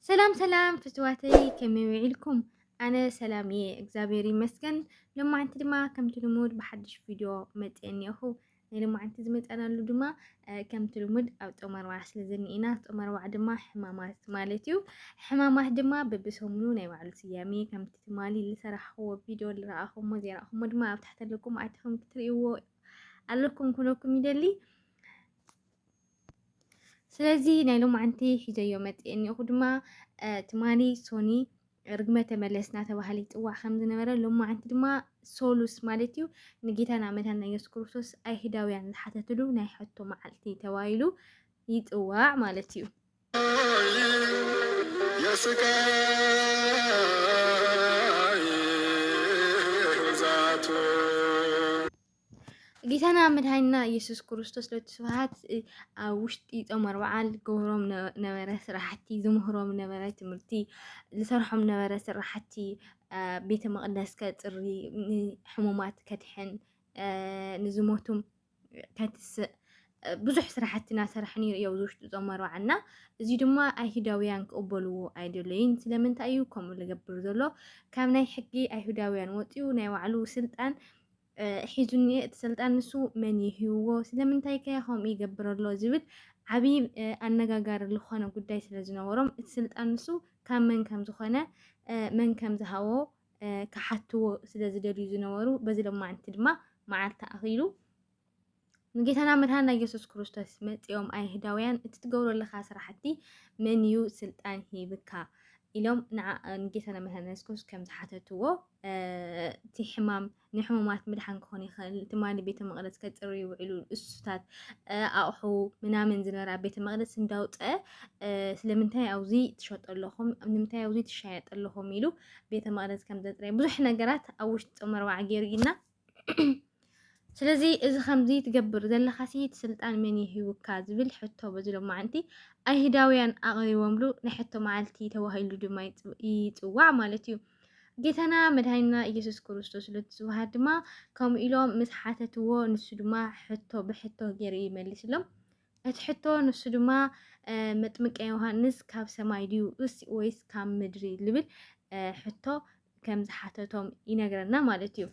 ሰላም ሰላም ፍትዋተይ ከመይ ውዒልኩም? ኣነ ሰላም እየ እግዚኣብሔር ይመስገን። ሎማዓንቲ ድማ ከምቲ ልሙድ ብሓድሽ ቪድዮ መፅአ እኒኦኹ። ናይ ሎማዓንቲ ዝመጸናሉ ድማ ከምቲ ልሙድ ኣብ ጾም ኣርባዓ ስለ ዝኒኤና ጾም ኣርባዓ ድማ ሕማማት ማለት እዩ። ሕማማት ድማ በብሰሙኑ ናይ ባዕሉ ስያሜ ከምቲ ትማሊ ዝሰራሕክዎ ቪድዮ ዝረኣኹሞ ዘይረኣኹሞ ድማ ኣብ ታሕቲ ኣለኩም ኣቲኹም ክትርእይዎ ኣለኩም ክብለኩም ይደሊ። ስለዚ ናይ ሎማዓንቲ ሒዘዮ መጽኤ እኒኦኹ ድማ ትማሊ ሶኒ ርግመ ተመለስ እናተባህለ ይፅዋዕ ከም ዝነበረ ሎማዓንቲ ድማ ሶሉስ ማለት እዩ ንጌታና መድሃና ኢየሱስ ክርስቶስ ኣይሁዳውያን ዝሓተትሉ ናይ ሕቶ መዓልቲ ተባሂሉ ይፅዋዕ ማለት እዩ። ጌታና መድሃኒና ኢየሱስ ክርስቶስ ለቲ ስብሓት ኣብ ውሽጢ ጾም ኣርብዓን ዝገብሮም ነበረ ስራሕቲ ዝምህሮም ነበረ ትምህርቲ ዝሰርሖም ነበረ ስራሕቲ ቤተ መቕደስ ከጽሪ ሕሙማት ከድሕን ንዝሞቱ ከትስእ ብዙሕ ስራሕቲ እናሰርሐ ነይሩ እዮ ኣብዚ ውሽጢ ጾም ኣርብዓና እዚ ድማ ኣይሁዳውያን ክቕበልዎ ኣይደለይን ስለምንታይ እዩ ከምኡ ዝገብር ዘሎ ካብ ናይ ሕጊ ኣይሁዳውያን ወፂኡ ናይ ባዕሉ ስልጣን ሒዙ እኒሀ እቲ ስልጣን ንሱ መን እዩ ሂብዎ ስለምንታይ ከ ከምኡ ይገብር ኣሎ ዝብል ዓብዪ ኣነጋጋሪ ዝኾነ ጉዳይ ስለ ዝነበሮም እቲ ስልጣን ንሱ ካብ መን ከም ዝኾነ መን ከም ዝሃቦ ክሓትዎ ስለ ዝደልዩ ዝነበሩ በዚ ለማዕንቲ ድማ መዓልቲ ኣኺሉ ንጌታና መድሃና ኢየሱስ ክርስቶስ መጺኦም ኣይሁዳውያን እቲ ትገብሮ ኣለኻ ስራሕቲ መን እዩ ስልጣን ሂብካ ኢሎም ንጌታና መድሃና ኢየሱስ ክርስቶስ ከም ዝሓተትዎ እቲ ሕማም ንሕሙማት ምድሓን ክኾን ይኽእል ትማሊ ቤተ መቕደስ ከጽሩ ይውዕሉ እሱታት ኣቑሑ ምናምን ዝነበራ ቤተ መቕደስ እንዳውፀአ ስለምንታይ ኣብዚ ትሸጡ ኣለኹም ንምንታይ ኣብዚ ትሻየጡ ኣለኹም ኢሉ ቤተ መቕደስ ከም ዘጽረየ ብዙሕ ነገራት ኣብ ውሽጢ ጾመ ረብዓ ገይሩ ኢልና ስለዚ እዚ ከምዚ ትገብር ዘለኻሲ እቲ ስልጣን መን ይህብካ ዝብል ሕቶ በዚ ሎማዓንቲ ኣይሁዳውያን ኣቕሪቦምሉ ናይ ሕቶ መዓልቲ ተባሂሉ ድማ ይፅዋዕ ማለት እዩ። ጌታና መድሃኒና ኢየሱስ ክርስቶስ ሎቲ ስብሃት ድማ ከምኡ ኢሎም ምስ ሓተትዎ ንሱ ድማ ሕቶ ብሕቶ ገይሩ ይመልስሎም። እቲ ሕቶ ንሱ ድማ መጥምቀ ዮሃንስ ካብ ሰማይ ድዩ ወይስ ካብ ምድሪ ልብል ሕቶ ከም ዝሓተቶም ይነግረና ማለት እዩ።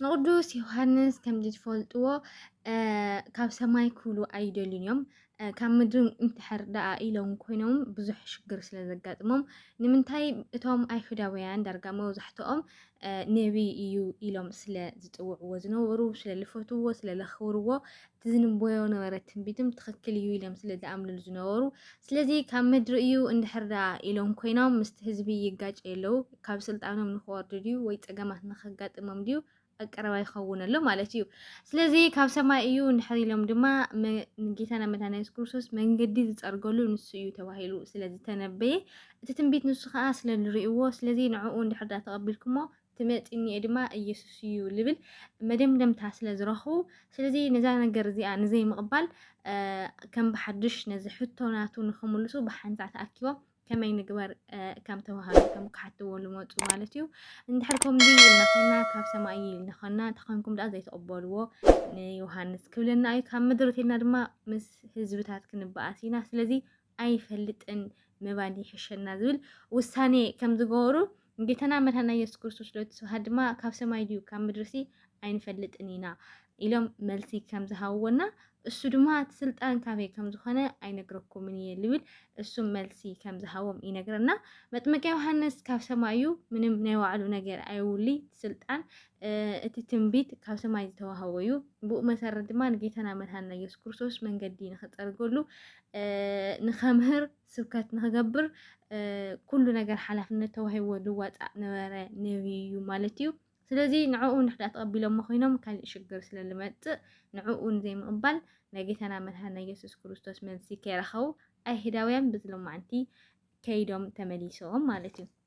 ንቅዱስ ዮሃንስ ከምዚ ትፈልጥዎ ካብ ሰማይ ክብሉ ኣይደልዩን እዮም ካብ ምድሪ እንተሐር ደኣ ኢሎም ኮይኖም ብዙሕ ሽግር ስለ ዘጋጥሞም ንምንታይ እቶም ኣይሁዳውያን ዳርጋ መብዛሕትኦም ነቢይ እዩ ኢሎም ስለ ዝፅውዕዎ ዝነበሩ ስለ ዝፈትውዎ ስለ ዘኽብርዎ እቲ ዝንበዮ ነበረ ትንቢትም ትኽክል እዩ ኢሎም ስለ ዝኣምንሉ ዝነበሩ ስለዚ ካብ ምድሪ እዩ እንድሕር ደኣ ኢሎም ኮይኖም ምስቲ ህዝቢ ይጋጨ የለው ካብ ስልጣኖም ንክወርዱ ድዩ ወይ ፀገማት ንከጋጥሞም ድዩ ኣቀረባ ይኸውን ኣሎ ማለት እዩ ስለዚ ካብ ሰማይ እዩ እንድሕር ኢሎም ድማ ንጌታና መድሃና የሱስ ክርስቶስ መንገዲ ዝፀርገሉ ንሱ እዩ ተባሂሉ ስለ ዝተነበየ እቲ ትንቢት ንሱ ከዓ ስለ ንርእዎ ስለዚ ንዕኡ እንድሕር ዳ ተቐቢልኩሞ ትመጺኒ'የ ድማ ኢየሱስ'ዩ ልብል መደምደምታ ስለ ዝረኽቡ፣ ስለዚ ነዛ ነገር እዚኣ ንዘይምቕባል ከም ብሓድሽ ነዚ ሕቶ ናቱ ንኽምልሱ ብሓንሳእ ተኣኪቦም ከመይ ንግበር ከም ተዋህዶ ከም ክሓትዎ ልመጹ ማለት እዩ። እንድሕር ከምዚ ኢልና ኾይና ካብ ሰማይ እዩ ኢልና ኾይና ተኾንኩም ደኣ ዘይተቐበልዎ ንዮሃንስ ክብለና እዩ። ካብ ምድሪ እተይልና ድማ ምስ ህዝብታት ክንበኣስ ኢና። ስለዚ ኣይፈልጥን ምባል ይሕሸና ዝብል ውሳኔ ከም ዝገበሩ ጌታና መድኃኒና ኢየሱስ ክርስቶስ ሎቱ ስብሐት ድማ ካብ ሰማይ ድዩ ካብ ምድርሲ ኣይንፈልጥን ኢና ኢሎም መልሲ ከም ዝሃብዎና እሱ ድማ እቲ ስልጣን ካበይ ከም ዝኾነ ኣይነግረኩምን እየ ልብል እሱ መልሲ ከም ዝሃቦም ይነግረና። መጥምቀ ዮሐንስ ካብ ሰማይ እዩ፣ ምንም ናይ ባዕሉ ነገር ኣይውሊ ስልጣን እቲ ትንቢት ካብ ሰማይ ዝተዋህቦ እዩ። ብኡ መሰረት ድማ ንጌታና መድኃኒና ኢየሱስ ክርስቶስ መንገዲ ንክፀርገሉ ንከምህር ስብከት ንክገብር ኩሉ ነገር ሓላፍነት ተዋሂቦ ዝዋፃእ ነበረ ነቢይ እዩ ማለት እዩ። ስለዚ ንዕኡ ንሕዳ ተቐቢሎሞ ኮይኖም ካልእ ሽግር ስለ ዝመፅእ ንዕኡ ንዘይምቕባል ናይ ጌታና መድሃና ኢየሱስ ክርስቶስ መልሲ ከይረኸቡ ኣይሁዳውያን ብዝሎማዕንቲ ከይዶም ተመሊሶም ማለት እዩ።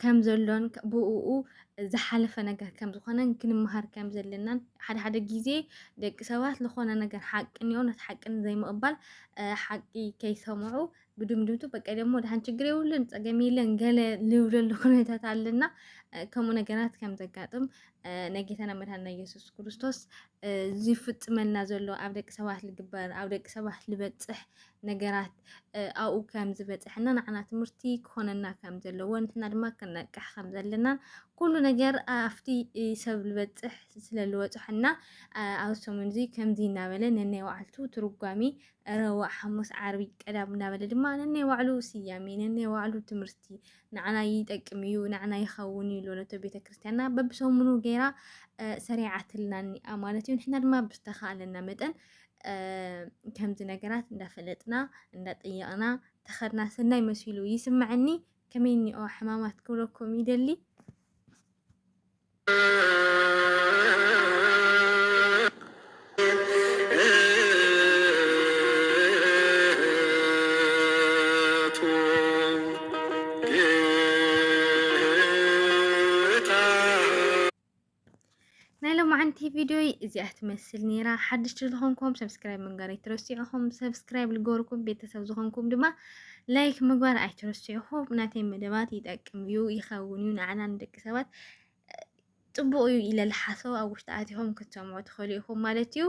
ከም ዘሎን ብእኡ ዝሓለፈ ነገር ከም ዝኾነን ክንመሃር ከም ዘለናን ሓደ ሓደ ግዜ ደቂ ሰባት ዝኾነ ነገር ሓቂ እንዮ ነቲ ሓቂ ዘይምቕባል ሓቂ ከይሰምዑ ብድምድምቱ በቃ ደግሞ ድሓን ችግር የብሉን ፀገም የለን ገለ ልብለሉ ኩነታት ኣለና ከምኡ ነገራት ከም ዘጋጥም ናይ ጌታና መድሃና ኢየሱስ ክርስቶስ ዝፍፅመልና ዘሎ ኣብ ደቂ ሰባት ዝግበር ኣብ ደቂ ሰባት ዝበፅሕ ነገራት ኣብኡ ከም ዝበፅሐና ንዓና ትምህርቲ ክኾነና ከም ዘለዎ ንሕና ድማ ክንነቅሕ ከም ዘለና ኩሉ ነገር ኣብቲ ሰብ ዝበፅሕ ስለ ዝወፅሐና ኣብ ሰሙን እዚ ከምዚ እናበለ ነናይ ባዕልቱ ትርጓሜ ረቡዕ፣ ሓሙስ፣ ዓርቢ፣ ቀዳም እናበለ ድማ ነናይ ባዕሉ ስያሜ ነናይ ባዕሉ ትምህርቲ ንዓና ይጠቅም እዩ ንዓና ይኸውን እዩ ሎነቶ ቤተ ክርስቲያንና በብሰሙኑ ገይራ ሰሪዓትልና እኒኣ ማለት እዩ። ንሕና ድማ ብዝተኻእለና መጠን ከምዚ ነገራት እንዳፈለጥና እንዳጠየቕና ተኸድና ሰናይ መሲሉ ይስምዐኒ ከመይ እኒኦ ሕማማት ክብለኩም ይደሊ ናይ ሎማዓንቲ ቪድዮይ እዚኣ ትመስል ነይራ። ሓድሽቲ ዝኾንኩም ሰብስክራይብ ምግባር ኣይትረስዑኹም። ሰብስክራይብ ዝገበርኩም ቤተሰብ ዝኾንኩም ድማ ላይክ ምግባር ኣይትረስዑኹም። ናተይ መደባት ይጠቅም እዩ ይኸውን እዩ ንዓና ንደቂ ሰባት ፅቡቕ እዩ ኢለ ዝሓሰቡ ኣብ ውሽጢ ኣትኹም ክትሰምዑ ትኽእሉ ኢኹም ማለት እዩ።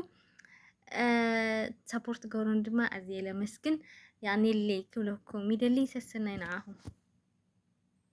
ሰፖርት ገበሩን ድማ ኣዝየ ለመስግን ያኔ ክብለኩም ይደሊ ሰሰናይ ንዓኹም